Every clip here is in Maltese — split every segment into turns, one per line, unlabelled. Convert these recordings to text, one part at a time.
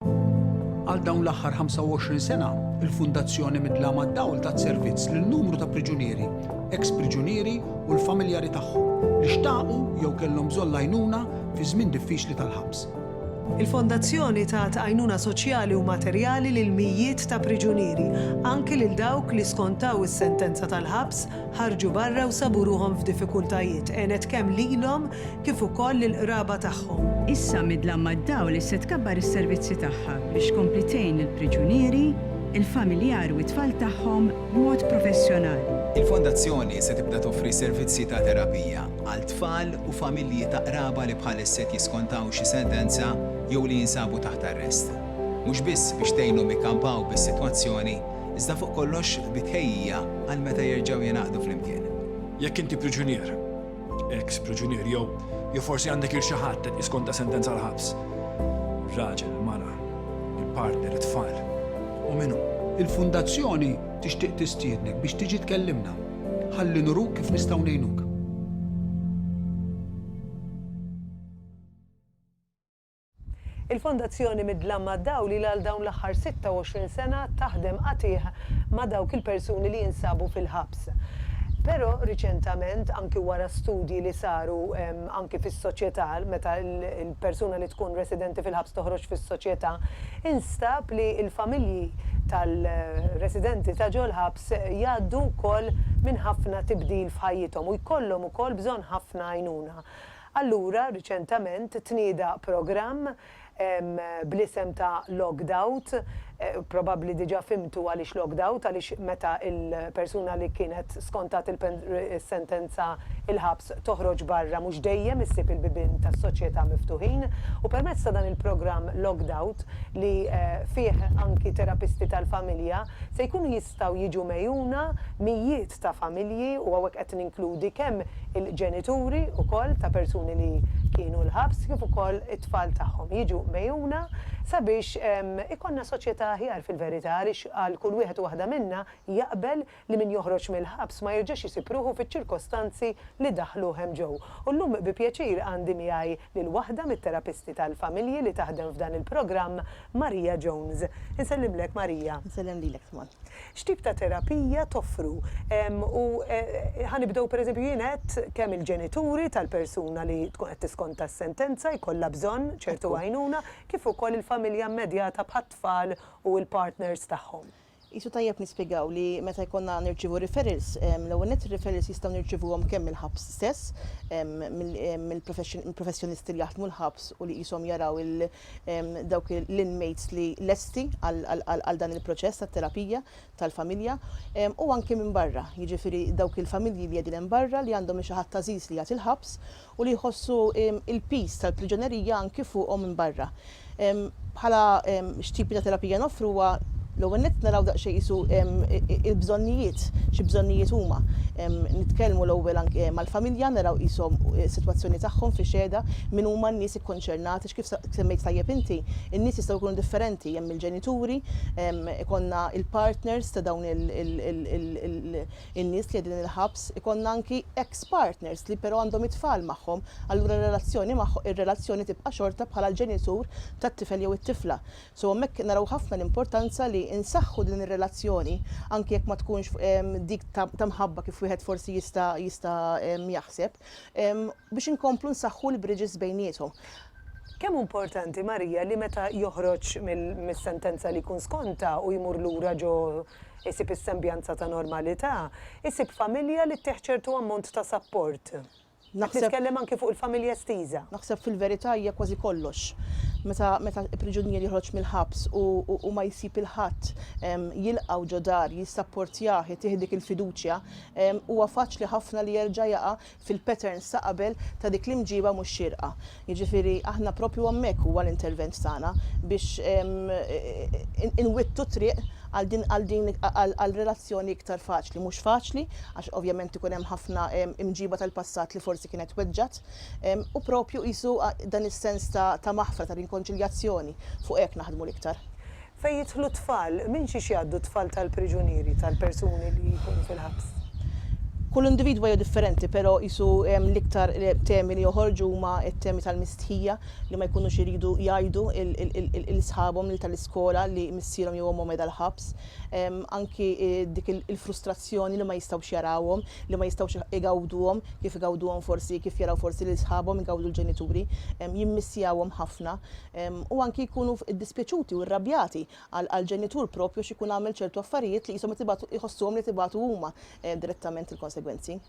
Għal dawn l-aħħar 25 sena, il-Fundazzjoni Midla mad-Dawl tat servizz lil numru ta' priġunieri, eks priġunieri u l-familjari tagħhom li xtaqu jew kellhom bżonn l-għajnuna fi żmien diffiċli tal-ħabs. Il-Fondazzjoni tat għajnuna soċjali u materjali lil mijiet ta' priġunieri, anki lil dawk li skontaw is-sentenza tal-ħabs, ħarġu barra u sabu ruħhom f'diffikultajiet, għenet kemm lilhom kif ukoll lill-qraba tagħhom. Issa midla mad-dawl li se tkabbar is-servizzi tagħha biex tkompli tgħin lill-priġunieri, il-familjari u t-tfal tagħhom b'mod professjonali. Il-Fondazzjoni se tibda toffri servizzi ta' terapija għal tfal u familji ta' qraba li bħalissa qed jiskontaw xi sentenza jew li jinsabu taħt arrest. Mhux biss biex tgħinhom ikkampaw bis-sitwazzjoni, iżda fuq kollox bi tħejjija għal meta jerġgħu jingħaqdu flimkien. Jekk inti priġunier. Eks priġunier jew jew forsi għandek il xi ħadd qed jiskonta sentenza għal ħabs. Raġel, mara, il-partner, it-tfal. U minnu. Il-Fundazzjoni tixtieq tistiednek biex tiġi tkellimna ħalli nuruk kif nistgħu ngħinuk. Il-Fondazzjoni Mid-Dlam mad-Dawl ilha għal dawn l-aħħar 26 sena taħdem qatigħ ma' dawk il-persuni li jinsabu fil-ħabs. Però riċentament, anki wara studji li saru anki fis-soċjetà, meta l-persuna li tkun residenti fil-ħabs toħroġ fis-soċjetà, instab li l-familji tal-residenti ta' ġol-ħabs jgħaddu wkoll minn ħafna tibdil f'ħajjithom u jkollhom ukoll bżonn ħafna għajnuna. Allura, riċentament tnieda programm bl-isem ta' Logged Out, probabbli diġà fhimtu għaliex logged out, għaliex meta l-persuna li kienet skontat is-sentenza il-ħabs toħroġ barra mhux dejjem issib il-bibien tas-soċjetà miftuħin u permezz ta' dan il-programm Logged Out li fih anki terapisti tal-familja se jkunu Jistgħu jiġu megħjuna mijiet ta' familji u hawnhekk qed ninkludi kemm il-ġenituri wkoll ta' persuni li kienu l-ħabs kif ukoll it-tfal tagħhom jiġu megħjuna sabiex ikollna soċjetà aħjar fil-verità għaliex għal kull wieħed u waħda minna jaqbel li min joħroġ mill-ħabs ma jerġax isib ruħu fiċ-ċirkostanzi li daħħluh hemm ġew. U llum bi pjaċir għandi miegħi lil waħda mit-terapisti tal-familji li taħdem f'dan il-programm Maria Jones, Insellimlek Maria. Insellem lilek tman. X'tip ta' terapija toffru? U ħa nibdew pereżempju jien għedt kemm il-ġenituri tal-persuna li tkun qed tiskonta s-sentenza jkollha bżonn ċertu għajnuna, kif ukoll il-familja immedjata bħat-tfal u l-partners tagħhom. Qisu tajjeb nispjegaw li meta jkollna nirċievu referrals, l-ewwel nett ir-referrals jistgħu nirċievuhom kemm mill-ħabs stess, mill-professjonisti li jaħdmu l-ħabs u li qishom jaraw dawk l-inmates li lesti għal dan il-proċess tat-terapija tal-familja, u anki minn barra, jiġifieri dawk il-familji li qegħdin hemm barra li għandhom lil xi ħadd għażiż li jgħat il-ħabs u li jħossu l-piż tal-priġunerija anki fuqhom minn barra. Bħala x'tipi ta' terapija noffru huwa l-ewwel nett naraw daqsxejn qisu l-bżonnijiet, xi bżonnijiet huma. Nitkellmu l-ewwel anki mal-familja, naraw qishom is-sitwazzjoni tagħhom fi xehda, min huma n-nies ikkonċernati, x'kif semmejt tajjeb inti, in-nies jistgħu jkunu differenti, hemm il-ġenituri, ikollna l-partners ta' dawn in-nies li qegħdin il-ħabs, ikollna anki ex partners li però għandhom it-tfal magħhom, allura r-relazzjoni magħhom ir-relazzjoni tibqa' xorta bħala l-ġenitur tat-tifel jew it-tifla. So hemmhekk naraw ħafna l-importanza li nsaħħu din ir-relazzjoni anki jekk ma tkunx dik ta' mħabba kif wieħed forsi jista' jista' jaħseb. biex inkomplu nsaħħu l-bridges bejniethom. Kemm hu importanti, Maria, li meta joħroġ mis-sentenza li jkun skontha u jmur lura ġo jsib is-sembjanza ta' normalità, isib familja li ttih ċertu ammont ta' sapport. Qed nitkellem anki fuq il-familja estiża. Naħseb fil-verità hija kważi kollox. Meta meta priġunier joħroġ mill-ħabs u u ma jsib il-ħadd jilqgħu ġo dar, jissapportjah, itih dik il-fiduċja, huwa faċli ħafna li jerġa' jaqa' fil-patterns ta' qabel ta' dik l-imġiba mhux xierqa. Jiġifieri aħna proprju hemmhekk huwa l-intervent tagħna biex inwittu t-triq għal din għal din għal relazzjoni iktar faċli. Mhux faċli għax ovvjament ikun hemm ħafna imġiba tal-passat li forsi kienet weġġgħet u proprju qisu dan is-sens ta' ta' maħfra, ta' rinkonċiljazzjoni fuq hekk naħdmu l-iktar. fejn jidħlu t-tfal, minn xiex jgħaddu t-tfal tal-priġunieri, tal-persuni li jkunu fil-ħabs? Kull individwa hija differenti, però qisu l-iktar temi li joħorġu huma t-temi tal-mistħija, li ma jkunux iridu jgħidu lil sħabhom, lil tal-iskola li missierhom jew ommhom qiegħda l-ħabs. Anki dik il-frustrazzjoni li ma jistgħux jarawhom, li ma jistgħux igawduhom kif igawduhom forsi, kif jaraw forsi lil sħabhom igawdu l-ġenituri. Jimmissjawhom ħafna. u anki jkunu ddispjaċuti u rrabjati għall-ġenitur proprju għax ikun għamel ċertu affarijiet li qishom qed ibatu jħossuhom li qed ibatu huma direttament il-konsegwenzi.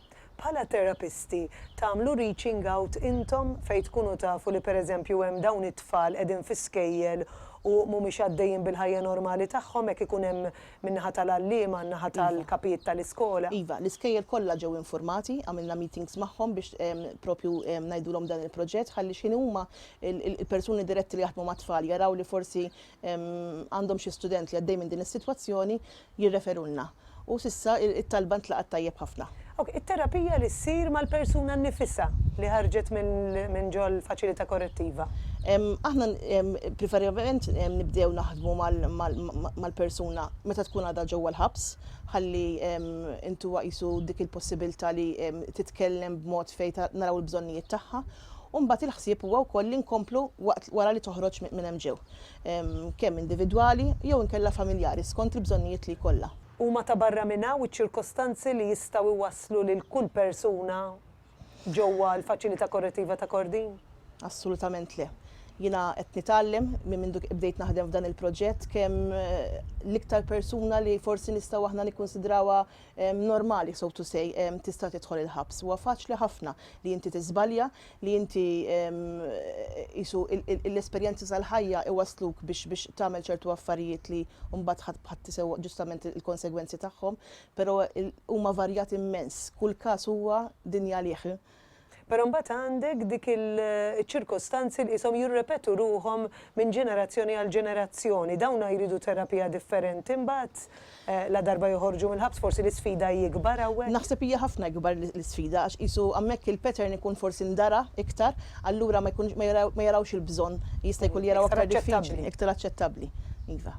Bħala terapisti, tagħmlu reaching out intom fejn tkunu tafu li pereżempju hemm dawn it-tfal qegħdin fi skejjel u mhumiex għaddejjin bil-ħajja normali tagħhom hekk ikun hemm min-naħa tal-għalliema, min-naħa tal-kapijiet tal-iskola? Iva, l-iskejjel kollha ġew infurmati, għamilna meetings magħhom biex proprju ngħidulhom dan il-proġett ħalli x'ħin huma il-persuni diretti li jaħdmu mat-tfal jaraw li forsi għandhom xi student li għaddej minn din is-sitwazzjoni, jirreferulna. U s'issa t-talba ntlaqgħet tajjeb ħafna. Ok, it-terapija li ssir mal-persuna nnifisha li ħarġet minn ġol-faċilità korrettiva? Aħna priferibbilment nibdew naħdmu mal-persuna meta tkun għadha ġewwa l-ħabs, ħalli intuha qisu dik il-possibilità li titkellem b'mod fejn naraw il-bżonnijiet tagħha U mbagħad il-ħsieb huwa wkoll li nkomplu waqt wara li toħroġ minn hemm ġew. Kemm individwali jew inkella familjari skont il-bżonnijiet li jkollha. Huma ta' barra minn hawn iċ-ċirkostanzi li jistgħu jwasslu lil kull persuna ġewwa l-Faċilità Korrettiva ta' Kordin? Assolutament le. Jiena qed nitgħallem minn mindu bdejt naħdem f'dan il-proġett kemm l-iktar persuna li forsi nistgħu aħna nikkunsidrawha normali so to say tista' tidħol il-ħabs. Huwa faċli ħafna li inti tiżbalja, li inti qisu l-esperjenzi tal-ħajja iwassluk biex biex tagħmel ċertu affarijiet li mbagħad ħadd b'ħadd isewwa ġustament il-konsegwenzi tagħhom, però huma varjati mmens, kull każ huwa dinja għalih. Però mbagħad għandek dik il-ċirkostanzi li qishom jirrepetu ruħhom minn ġenerazzjoni għal ġenerazzjoni. Dawna jridu terapija differenti mbagħad ladarba joħorġu mill-ħabs. Forsi l-isfida hi ikbar hawnhekk? Naħseb hija ħafna ikbar l-isfida għax qisu hawnhekk il-pattern ikun forsi ndara iktar, allura ma jkunx ma jarawx il-bżonn, jista' jkun li jaraw aktar diffiċli, iktar aċċettabbli. Iva.